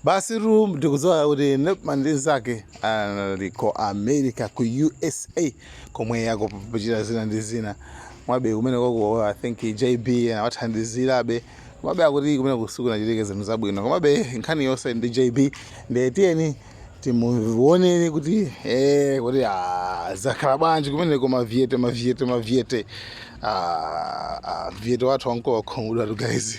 Basitu ndikudziwa kuti Nepman ndi nzake ali ku America ku USA komwe akuchita zina ndi zina komabe kumeneko I think JB anawathandizirabe komabe akuti kumeneko sikunachitike zinthu zabwino komabe nkhani yonse ndi JB ndiye tiyeni timuoneni kuti eh kuti ah zakhala bwanji kumeneko ma viete ma viete ma viete ah ah viete wathu wanko wakhumudwatu guys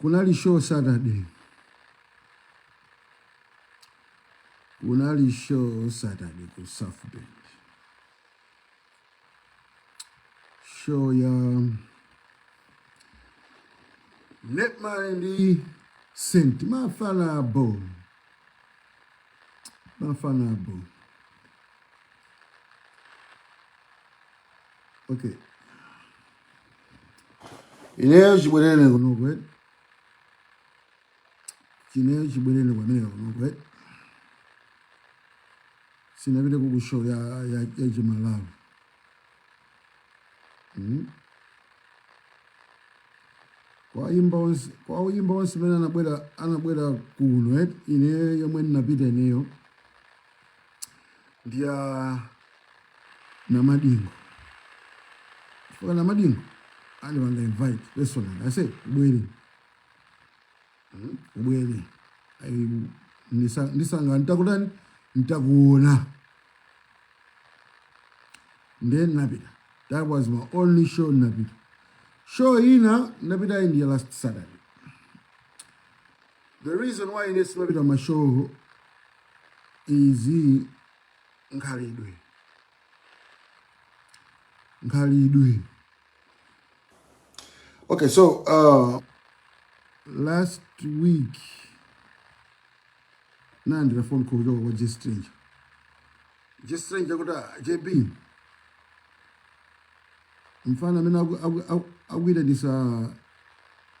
Kunali show Saturday. Kunali show Saturday ku South Bend. Show ya Nepman ndi Saint mafana abho. Mafana abho. Okay. Ineyo chibwerere kunoku eti. Ineyo chibwerere ku America kunoku eti. Sinapite ku ku show ya ya ya chiMalawi. Mm. Kwa oyimba onse kwa oyimba onse amene anabwera anabwera kuno eti. Ineyo yomwe ndinapita ineyo. ndi ya Namadingo chifukwa Namadingo andipanga invite personally aise ubwere hmm? ubwere ndisangalala nditakutani nditakuona ndiye ndinapita that was my only show ndinapita show ina ndinapita ndi ya last saturday The reason why ine simapita ma show is nkhalidwe nkhalidwe okay so uh, last week nalandira phone call kuchoka kwa J Strange J Strange akuti "Ah, JB mfana amene aku- aku- aku- akuyitanisa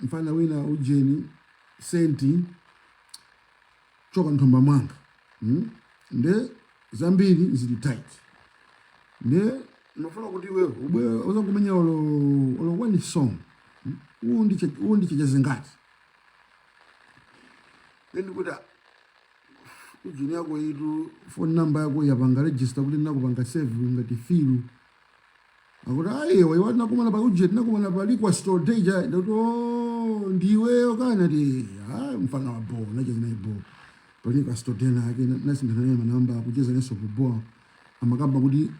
mfana wina ujeni Saint choka nthumba mwanga hmm? nde zambiri zili tight nde ndofuna kuti iwe ubwere uzangomenya olo olo one song hmm? uwu ndiche uwu ndiche chazingati then ndikuti ujeni yakoyitu phone number yako yapanga register kuti ndinakupanga save ngati filu Akuti ayi iwe iwe tinakumana pa uje tinakumana pa liquor store day ja ndikuti oh ndiweyo kana ti ah mfana wa bo nacheza naye bo pa liquor store day inaake nasinthana naye manamba kucheza naye ku bo amakamba kuti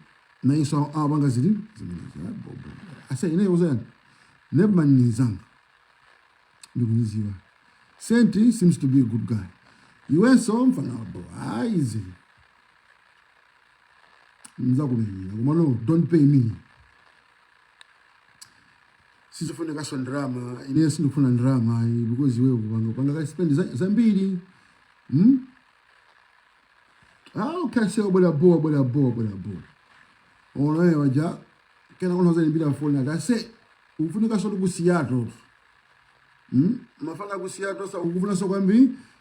nayeso apanga zili zimenezo ah, bo bo ase ineyo zani Nepman ni nzanga ndikumuziwa Senti seems to be a good guy iwenso mfana wa bo ayi zili nzakumenyera koma no don't pay me sizofunikaso ndalama ineyo sindikufuna ndalama ayi because iwewe kupanga panga ka spend za- zambiri hmm? ah, okay ase obwera boa obwera boa obwera boa onaye waja kenako nazaniimbira foni ati ase ufunikasotu ku Seattle hmm? mafana aku Seattle so akufunaso kwambiri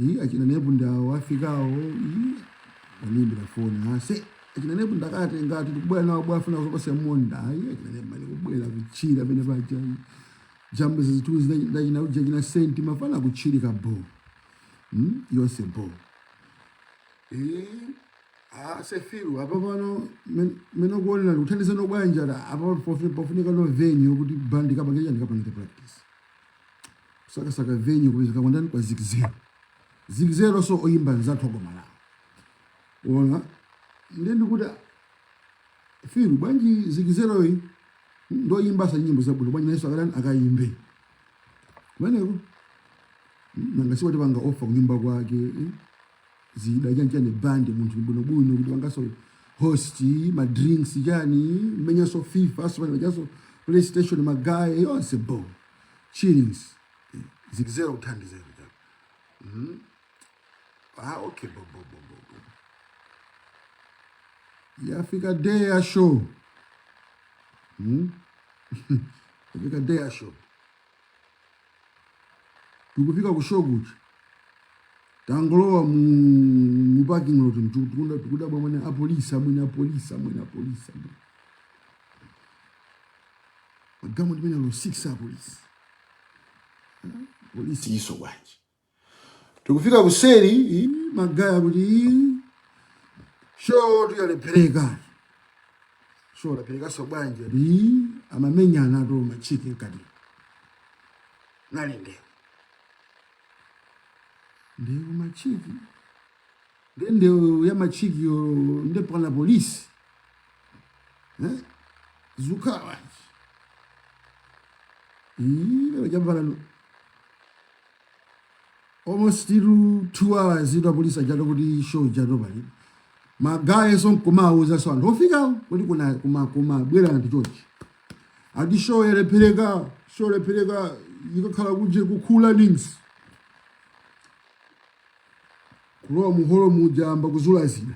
Ii, achina Nep ndi awo afikawo Ii, waniimbira foni ase achina Nep ndakatenga ati tikubwera nawo bo afuna kuzopasira monda ayi achina Nep mali kubwera kuchira pene paja jambo zinthuzi ndi achina uje achina Senti mafana kuchirika bo mm? yonse bo Eh, ase firu apa pano men- mene kuonera kuti kuthandizana bwanji ati apa pofu- pofunikano venue kuti bandi kapange chani kapange practice kusakasaka venue kupezeka kwandani kwa zikizero zikizero so oyimba nzathu agoma lawo ona nde ndikuti firu bwanji zikizeroyi ndoyimbaso nyimbo zabwino bwanji nayeso akatani akayimbe kumeneko nanga si watipanga offer kunyumba kwake eh? zida chanchani band munthu bwinobwino kuti wangaso host ma drinks chani menyaso fifa simanyaso playstation magaye yonse bo chillings Eh, zikizera kuthandizera chani mm. ah, okay bo, bo, bo, bo, bo. yafika day ya show mm. yafika day ya show tikufika ku show kuchi tangolowa mu mu parking lot mtukunda tukuda bwa mwana a police amwene a police amwene a police amwene magamo ndimene lo 6 a police police iso bwanji tikufika kuseri ii, magaya kuti ii, show tu yalephereka show yalepherekanso bwanji ati ii, amamenyanatu machiki mkati munali ndewu machiki nde ndewu ya machikiyo nde pali apolisi eh? zukhala bwanji ii lero jambalano almost tu 2 hours itu apolisi achato kuti show ichato pali magaya so nkumawuza so anthu ofikawo kuti kuna kuma kuma bwera anthu chochi ati show yalephereka show yalephereka ikakhala ku uje kukhula nings kulowa muholo muja ayamba kuzula zina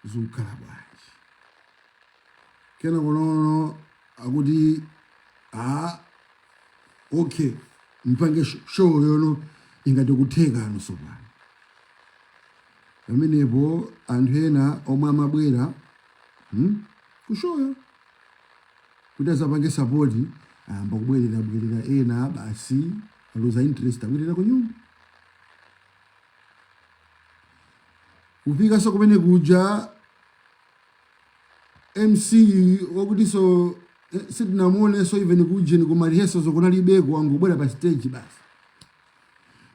zukhala bwanji kenako konkuno akuti a okay mpange sh- show yo no ingati kutheka no so pano pamenepo anthu ena omwe amabwera hmm? kushoyo kuti azapange sapoti ayamba kubwererabwerera ena basi aluza interest abwerera kunyumba kufikanso kumene kuja mc wakutiyonso eh, sitinamuonenso even kujeni kuma rehearsal so kunalibeko wangobwera pa stage basi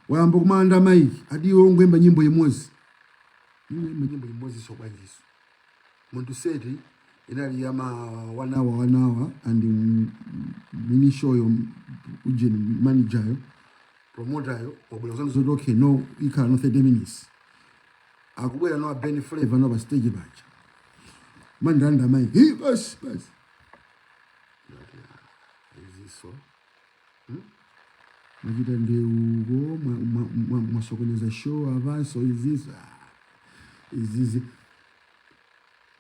wayamba kumalanda maiki ati iwe ungoimba nyimbo imodzi imba nyimbo imodzi so bwanjiso munthu seti inali ya ma one hour one hour and mm, mini show yo ujeni manager yo promoter yo wabwera kuzandiuza kuti okay no ikhala no 30 minutes akubwera no a Ben Flavor no pa stage paja mandilanda maiki basi basi ndati ah, iziso hmm? machita ndewu ko mwasokoneza mwa, mwa show avanso izizi ah, izizi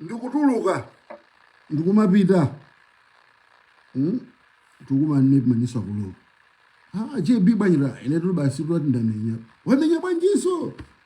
ndikutuluka ndikumapita hmm? tikumanamizanaso kulowa ah, jb pa njira ine tuli basi tulati ndamenya wamenya bwanjiso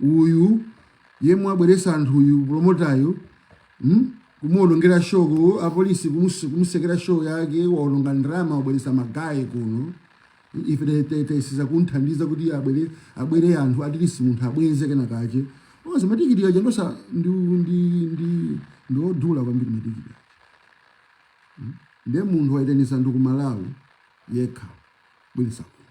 uyu yemwe abweresa anthu uyu promotayu mm? kumuonongera show ku apolisi kumus- kumusekera show yake waononga ndalama wabweresa magaye kuno ife te- te- tayesesa kumthandiza kuti abwere abwere anthu atilisi munthu abweze kena kache osa matikiti aja ndosa ndi ndi ndi ndiodula kwambiri matikiti aja ndiye munthu wayitanisa anthu ku malawi yekha bweresa kuno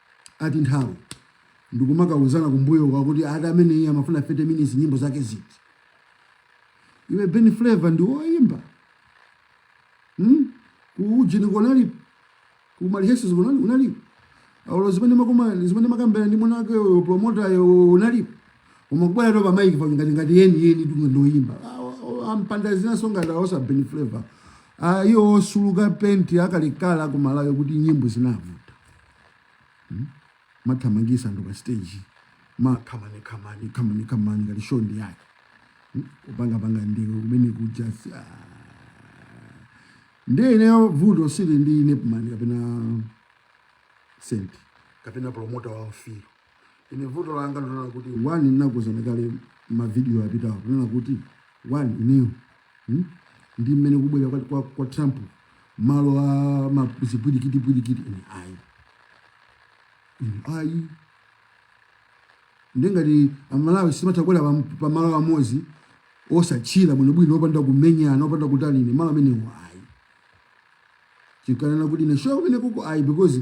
ati nthawi ndikumakawuzana kumbuyo kwa kuti ati amene iye amafuna 30 minutes nyimbo zake ziti iwe Ben Flavor ndi woyimba hmm? kuujeni unali kuma rehearsal siunali unalipo aulo zimene makoma zimene makambera ndi mwana wake uyo promoter yo unali umangobwera kutola maiki pa ngati ngati yeni yeni ndi ndoyimba ampanda zina zonga ndi osa Ben Flavor ayo osuluka penti akalekale ku Malawi kuti nyimbo zinavu hmm? mathamangisa anthu pa stage ma kamani kamani kamani kamani ngati show ndi yake hmm? kupanga panga ndiwe kumene kuja ah. ndi ineyo vuto sili ndi Nepman kapena senti kapena promota wa mfiro ine vuto langa ndi kunena kuti one ndinakuuzani kale mavidiyo apitawo kunena kuti one ineyo hmm? ndi mmene kubwera kwa, kwa, kwa trump malo a zipwirikiti pwirikiti ine ayi ine ayi nde ngati amalawi sitimatha kubwera pamalo amodzi ozacheza bwinobwino opanda kumenyana opanda kutani ine malo amenewo ayi ndikanena kuti ine show kumene kuko ayi because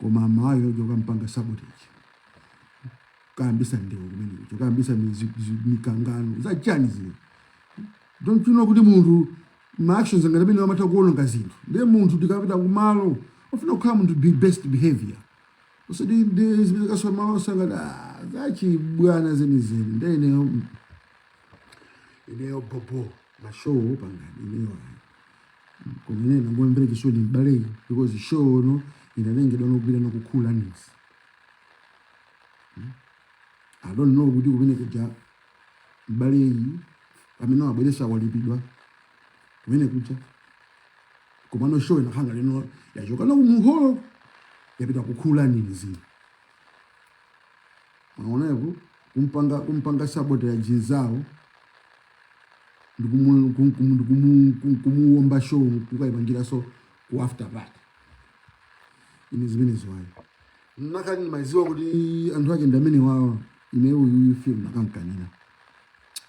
koma amalawi oja okampanga sabotage kukayambitsa ndewu kumeneko kukayambitsa mikangano zachani zile don't you know kuti munthu ma actions ngati amenewo amatha kuononga zinthu ndiye munthu tikapita kumalo ufuna ukhale munthu wa best behavior usati ndi zimene kaswa malo sangati ah, zachibwana zenizeni nde ineyo ineyo bobo ma show pangani ineyo ayi koma ine ndangomumvera chisoni m'baleyi because show no inalengedwa nogwira ndi kukhula nizi i don't know kuti kumene kuja m'baleyi amene wabweretsa walipidwa kumene kuja komano show inakhanga lino yachoka nokumholo yapita kukhula nizi unaonapo kumpanga kumpanga sabotage nzawo ndikumuwomba show kukayipangiraso ku after party ine zimenezo ayi nakati ndimaziwa kuti anthu ake ndi amene awawa ineyo film ndakamkanira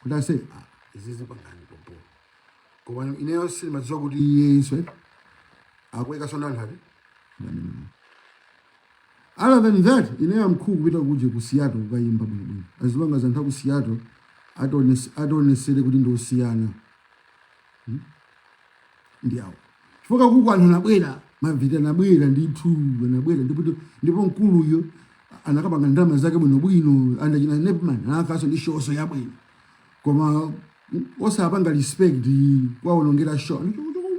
kuti ase ah, izizi pangani pompo koma ineyo sindimaziwa kuti iye isee akuweka sona anthu ati ndamene other than that ine am cool kupita kuja ku Seattle kukayimba bwino bwino as long as anthu aku Seattle atones atonesere kuti ndi osiyana hmm? ndi awo chifukwa kuja anthu anabwera ma vida anabwera ndithu anabwera ndipo ndipo mkuluyo anakapanga ndalama zake bwino bwino anzache ena nepman anakaso ndi show so yabwino koma osapanga respect kuwaonongera show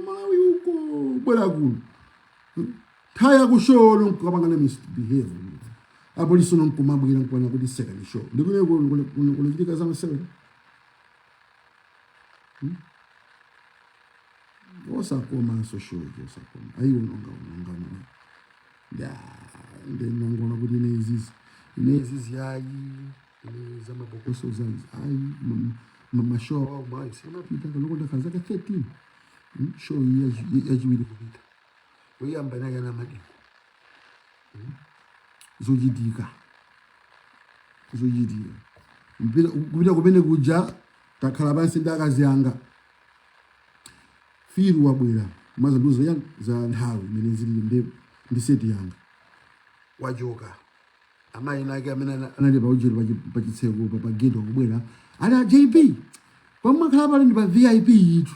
malawi uko kubwera kuno Thaya ku show yo nkukapanga ma misbehave. Apolisi nkumabwera kunena kuti sekani show. Nde kuno kukuchitika za masewera. Hmm? Osakomanso show osakoma. Ayi uononga uononga mwana. Ya, ndinangoona kuti ine izizi. Ine izizi ayi. Ine za mapokoso izi ayi. Ma ma show awo mwayi. Sindimapita kaloko ndakhala zaka 13. Hmm? Show yachiwiri kupita. oyamba anali ana amadikira hmm? zochitika zochitika kupita kumene kuja takhala pansi ndi akazi anga Phil wabwera amadzandiuza za nthawi imene zili ndi ndi seti yanga wachoka amayi nake amene anali pa ujiro pa chitseko pa pa gate kubwera ali a JP pomwe akhala pali ndi pa VIP yitu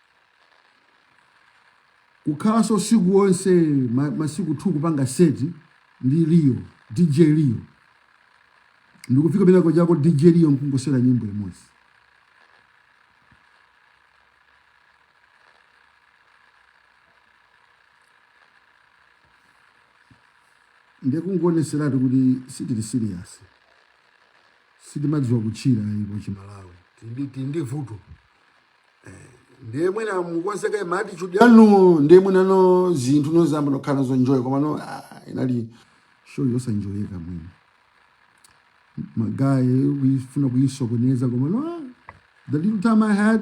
kukhalanso usiku wonse ma- masiku 2 kupanga seti ndi Leo DJ Leo ndikufika penapake kochako DJ Leo nkungosewera nyimbo imodzi ndikungoonetseratu kuti sitili serious sitimadziwa kutchira ipo chimalawi tili ndi tili ndi vuto ndiye mwina mukonze ma attitude yanu ndiye mwina no zinthu nozamba nokhala nazo enjoy koma no ah, inali show yosanjoyeka mwina magaye amafuna kuyisokoneza koma no ah, the little time i had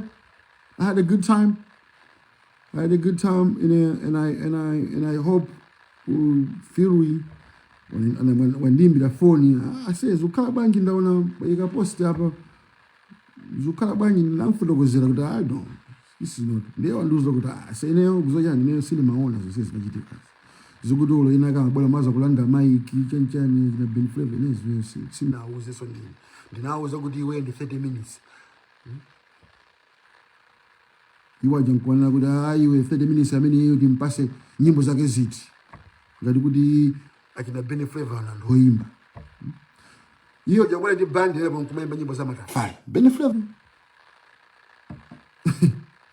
i had a good time i had a good time in a, and i and i and i hope Phil wandiimbira foni ase zikukhala bwanji ndaona waika post apa zikukhala bwanji ndinamfotokozera kuti i don't this is not ndiye wandiuza kuti ah ase ineyo kuzochani ineyo sindimaona zonse zinachitika akuti dzulo ina kama bwana amadzakulanda maiki chanchani na Ben Flavor ineyo zimene si- sindinawauze so ndine ndinauza kuti iwe ndi 30 minutes iwo aja nkuonera kuti ah iwe 30 minutes amene iyo timpase nyimbo zake ziti ngati kuti achina Ben Flavor nangoimba hiyo jangwa ndi band ili nkumaimba nyimbo za Matafale Ben Flavor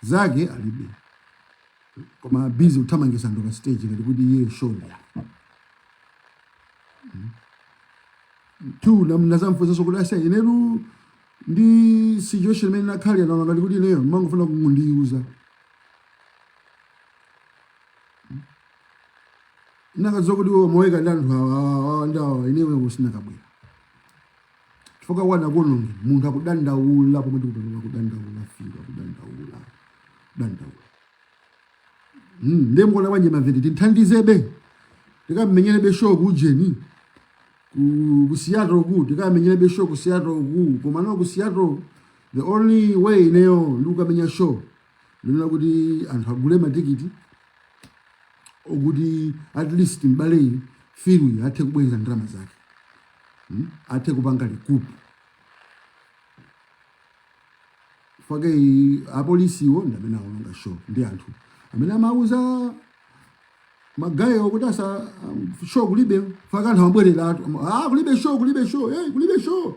zake alibe koma busy kuthamangitsa anthu pa stage ngati kuti iye show ya hmm? tu ndinadzamufunsanso kuti ase ineyo ndi situation imene inakhalira ndinaona ngati kuti ineyo mumangofuna kundiuza ndinakadziwa kuti iwe umaika ndi anthu awa awa awa ndi awa ineyo sindinakabwera chifukwa anakaononga munthu akudandaula pomwe ndikupanoa kudandaula Phil kudandaula kudandaula Mm, ndiye mukuona bwanji maveti tithandizebe tikamenyerebe show kujeni ku- ku Seattle ku tikamenyerebe show ku Seattle ku koma no ku Seattle the only way ineyo ndikukamenya show ndinena kuti anthu agule matikiti okuti at least mbale Fury athe kubweza ndalama zake hmm? athe kupanga likupu fake apolisiwo ndi amene awononga show ndi anthu amene amauza magaye kuti asa um, show kulibe fake anthu amabwereratu ah, kulibe show kulibe show hey, eh, kulibe show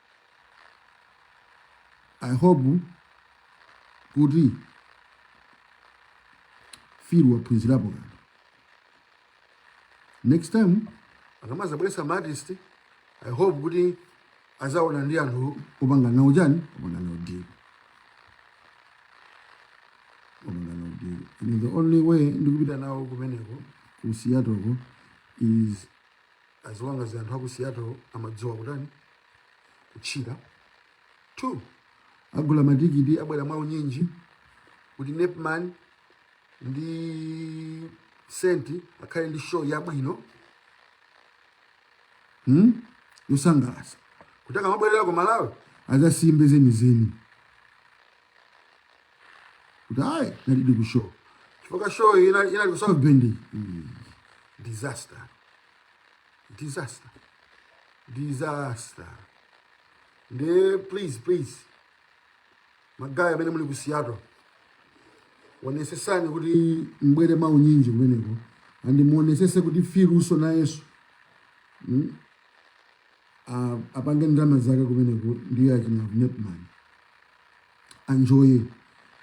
i hope kuti Fury waphunzirapo kanthu next time akamazabweresa maartist i hope kuti azaona ndi anthu opanga nawo chani opanga nawo deal opanga nawo deal and the only way ndikupita nawo kumeneko ku Seattleko is as long as anthu aku seattle amadziwa kutani kutchila two agula matikiti abwere mwaunyinji kuti nepman ndi senti akhale ndi show yabwino hmm? yosangalatsa kuti akamabwerera ku malawi azasimbe zenizeni kuti ayi tinalidi ku show chifukwa show ina iyi ya ku south bend Mm. disaster disaster disaster nde please please magayi amene muli ku seattle onesesani kuti mbwere mwaunyinji kumeneko and muonesese kuti Furyso nayeso apange ndalama zake kumeneko ndiye achina nepman anjoye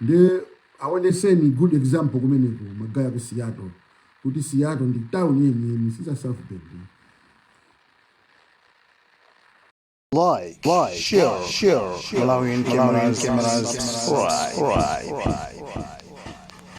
ndiye aoneseni good example kumeneko magaye aku Seattle kuti Seattle ndi town yeniyeni siza South Bend Like, like, share, share, share. Malawian Malawian cameras, cameras, subscribe. subscribe.